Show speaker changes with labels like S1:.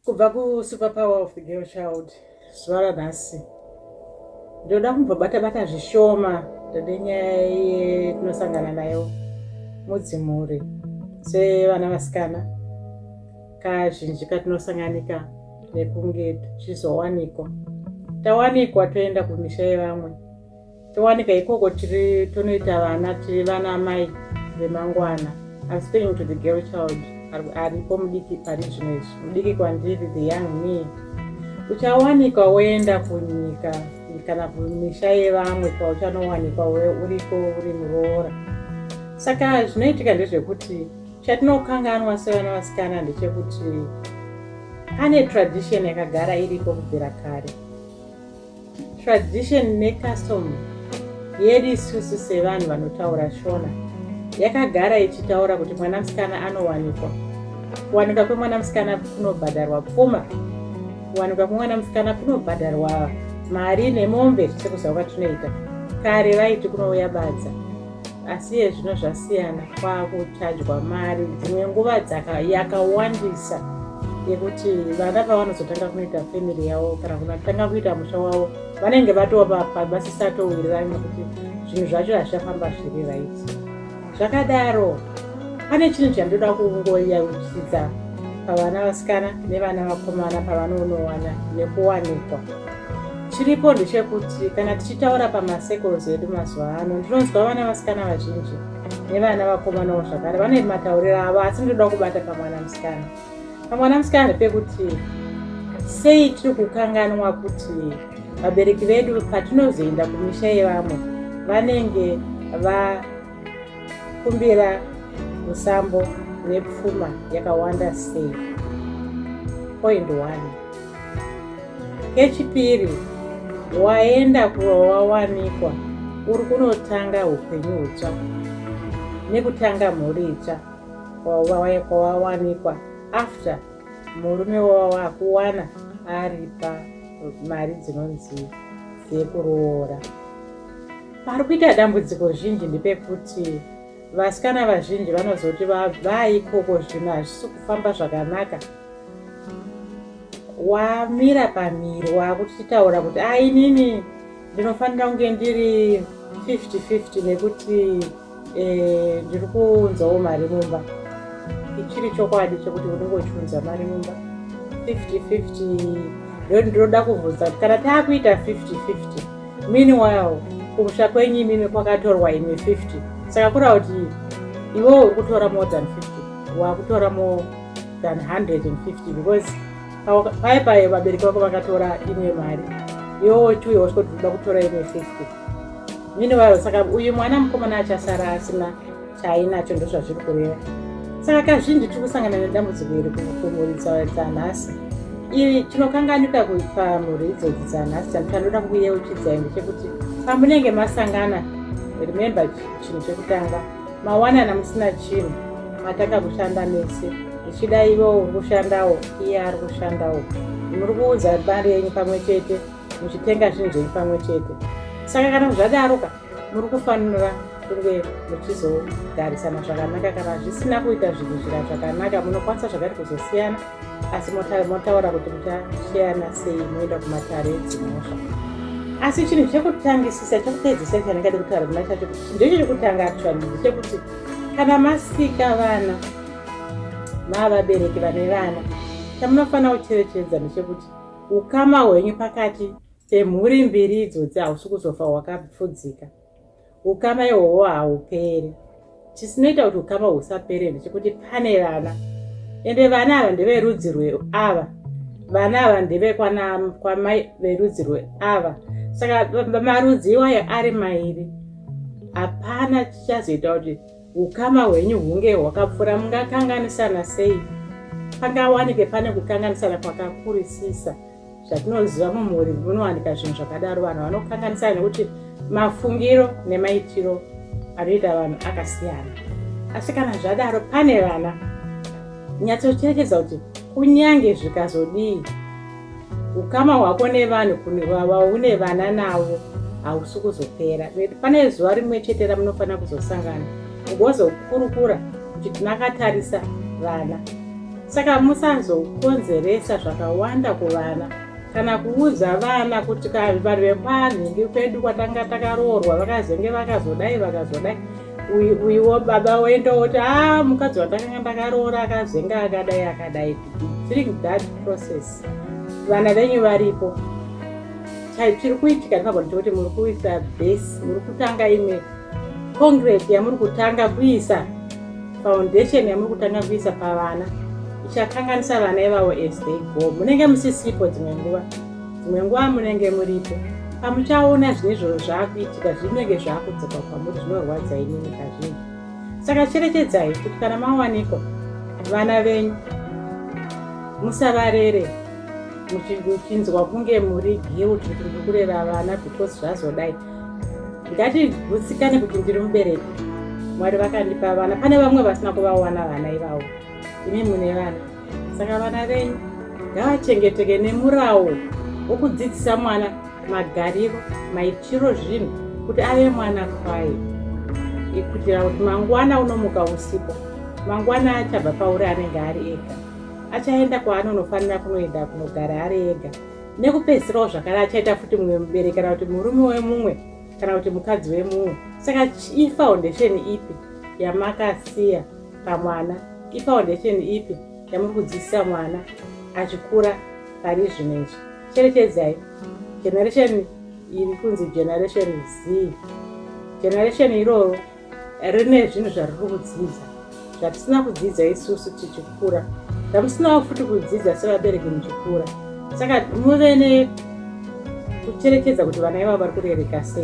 S1: Kubva ku super power of the girl child zuva ranhasi ndoda kumbobata bata zvishoma ndode nyaya yetinosangana nayo mudzimhuri sevana vasikana kazhinji katinosanganika nekunge tichizowanikwa tawanikwa toenda kumisha yevamwe towanika ikoko tiri tonoita vana tiri vana mai vemangwana I'm speaking to the girl child aripo mudiki pari zvino izvi mudiki kwandiri the young me uchawanikwa woenda kunyika kana kumisha yevamwe kwauchanowanikwa uriko uri muroora saka zvinoitika ndezvekuti chatinokanganwa sevana vasikana ndechekuti ane tradition yakagara iripo kubvira kare Tradition necustom yedu isusu sevanhu vanotaura shona yakagara ichitaura kuti mwana musikana anowanikwa kuwanika kwemwana musikana kunobhadharwa pfuma kuwanika kwemwana musikana kunobhadharwa mari nemombe sekuzawa tinoita kare vaiti kunouya badza asi iye zvino zvasiyana kwakuchajwa mari dzimwe nguva yakawandisa yekuti vana pavanozotanga kunoita family yavo kana kunatanga kuita musha wavo vanenge vatopapa vasisatowirirani nekuti zvinhu zvacho hazvichafamba zviri raiti zvakadaro pane chinhu chandoda kungoyauchidza pavana vasikana nevana vakomana pavanoonowana nekuwanikwa chiripo ndechekuti kana tichitaura pamasekos edu mazuva ano ndinonzwa vana vasikana vazhinji nevana vakomanawo zvakare vane matauriro avo asi ndinoda kubata pamwana musikana pamwana musikana ndepekuti sei tiri kukanganwa kuti vabereki vedu patinozoenda kumisha yevamwe vanenge va Kumbira musambo nepfuma yakawanda sei? Point one. Kechipiri, waenda kurowawanikwa uri kunotanga upenyu utsva nekutanga mhuri itsva kwawawanikwa after murume wawakuwana aripa mari dzinonzi dzekuroora. Pari kuita dambudziko zhinji ndepekuti vasikana vazhinji vanozoti vaikoko zvino hazvisi kufamba zvakanaka wamira pamiri waakutitaura kuti a ah, inini ndinofanira kunge ndiri 50 50 nekuti Eh, ndiri kuunzawo mari mumba ichiri chokwadi chekuti unenge uchiunza mari mumba 5050 ndo ndinoda kuvhunza kuti kana taakuita 5050 meanwhile kumusha kwenyu imimi kwakatorwa imi 50 saka kura kuti iwo uri kutora more than 50 wakutora more than 150 because paye paye vabereki vako vakatora imwe mari iwo chiuya usikuti unoda kutora imwe 50 mhini waro saka uyu mwana mukomana achasara asina chaainacho ndozvazviri kureva saka kazhinji tiri kusangana nedambudziko iri kumuridza dzanhasi iri chinokanganika pamhuri idzodzi dzanhasi chanu chanoda kuyeuchidza ende chekuti pamunenge masangana remembe chinhu chekutanga mawanana musina chinhu matanga kushanda mese ichida ivo uri kushandawo iye ari kushandawo muri kuudza mari yenyu pamwe chete muchitenga zvinhu zvenyu pamwe chete saka kana zvadaroka muri kufanira kunge muchizogarisana zvakanaka kana zvisina kuita zvinhu zvira zvakanaka munokwanisa zvakati kuzosiyana asi motaura kuti muchasheyana sei moenda kumatare edzimhosva asi chinhu chekutangisisa chekupedzisa chandingadi kutaura kuna chacho ndecho chekutanga actually ndechekuti kana masika vana maavabereki vane vana chamunofanira kucherechedza ndechekuti Ukama hwenyu pakati pemhuri mbiri idzodzi hausi kuzofa hwakapfudzika. Ukama ihwohwo hauperi. Chisinoita kuti ukama husapere ndechekuti pane vana, ende vana ava ndeverudzi rweava. Vana ava ndevekwamai verudzi rweava. Saka marudzi iwayo ari mairi, hapana chichazoita kuti Ukama hwenyu hunge hwakapfura mungakanganisana sei? Pangawanike pane kukanganisana kwakakurisisa. Zvatinoziva mumhuri munowanika zvinhu zvakadaro. Vanhu vanokanganisana nekuti mafungiro nemaitiro anoita vanhu akasiyana. Asi kana zvadaro, pane vana nyatsocherechedza kuti kunyange zvikazodii ukama hwako nevanhu vaune vana navo hausi kuzopera pane zuva rimwe chete ramunofanira kuzosangana ugozokurukura kuti tinakatarisa vana saka musazokonzeresa zvakawanda kuvana kana kuudza vana kuti vanhu vekwanhingi kwedu kwatanga takaroorwa vakazenge vakazodai vakazodai uyiwo baba woenda woti a ah, mukadzi watakanga ndakaroora akazenge akadai akadai During that process vana venyu varipo chiri kuitika ndinogona kuti muri kuita base muri kutanga imwe concrete yamuri kutanga kuisa foundation yamuri kutanga kuisa pavana ichakanganisa vana ivavo as they go munenge musisipo dzimwe nguva dzimwe nguva munenge muripo pamuchaona zvine izvozvo zvaakuitika zvinenge zvaakudzoka kwamuri zvinorwadza inini kazhinji saka cherechedzai kuti kana mawanikwa vana venyu musavarere muchinzwa kunge muri guilt kuti muri kurera vana because zvazodai ngatigutsikane kuti ndiri mubereki mwari vakandipa vana pane vamwe vasina kuvawana vana ivavo imi mune vana saka vana venyu ngavachengeteke nemurawo wokudzidzisa mwana magariro maitiro zvinhu kuti ave mwana kwaye kuitira kuti mangwana unomuka usipo mangwana achabva pauri anenge ari ega achaenda kwaanonofanira kunoenda kunogara ari ega nekupedzisirawo zvakare achaita futi mumwe mubereki kana kuti murume wemumwe kana kuti mukadzi wemumwe saka ifoundation ipi yamakasiya pamwana ifoundation ipi yamuri kudzidzisa mwana achikura pari zvino izvi cherechedzai generation iri kunzi generation z generation iroro rine zvinhu zvariri kudzidza zvatisina kudzidza isusu tichikura zvamusinawo futi kudzidza sevabereki muchikura saka muve nekucherekedza kuti vana ivavo vari kurereka sei